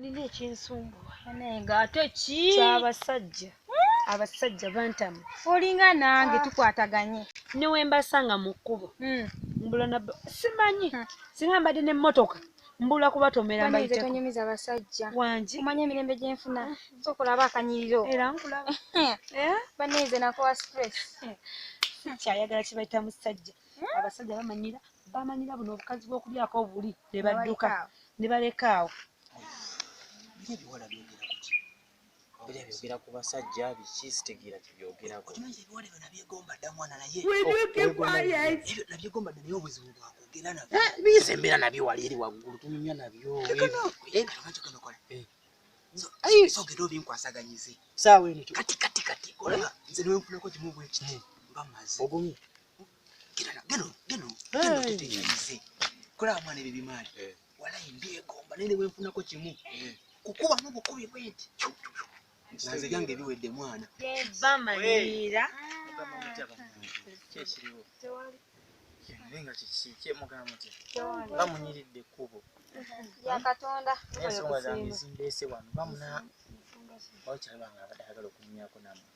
nina ekinsumbuwa naye nga ate ki kyabasajja hmm? abasajja bantamu olinga nange ah. tukwataganye newembasanga mu kkubo hmm. mbula na simanyi hmm. singa mbadde nemmotoka mbula kubatomera mbayitekunyumiza abasajja wangi omanya emirembe gyenfuna sokulaba akanyiriro era nkulaba eh? baneze nakowa stress kyayagala kibayita musajja abasajja bamanyira bamanyira buno obukazi bwokubyako obuli nebadduka nebaleka awo byogera ku basajja biki sitegeera kibyogerakonabyegombaddanaye obuzibu bwakwogera nabyo eh, biyisa embeera nabyo wali eri waggulu tunyumya nabyo sogera obinkwasaganyize saawa eno kati kati kati olaba nze newenfunako kimu bwekiti hmm. bamaze ogumye kulaba mwana ebyo bimaali eh. walayi mbyegomba naye nebwenfunako kimu eh. kukuba mubukubi bwenti naze byange biwedde mwana bamanyira kyekiriwo nga kikyemugamu ti bamunyiridde ekkubo yakatonda ensonga zange zimbeese wano bamuna okyalaba nga abadde ayagala okunyumyako namwe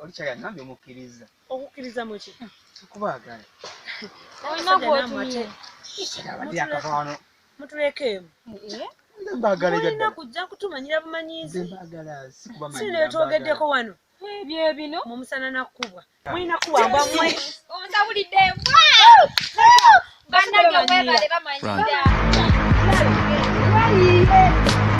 oli kyali agambye omukkiriza okukkiriza muki okubaagala olina gwotumye abadde akava wano mutulekeemu olina kujja kutumanyira bumanyizi sino byetwogeddeko wano ebyo bino mumusana nakukubwa ah. mulina kuwamba mwe ondawulidde banange webale bamanyi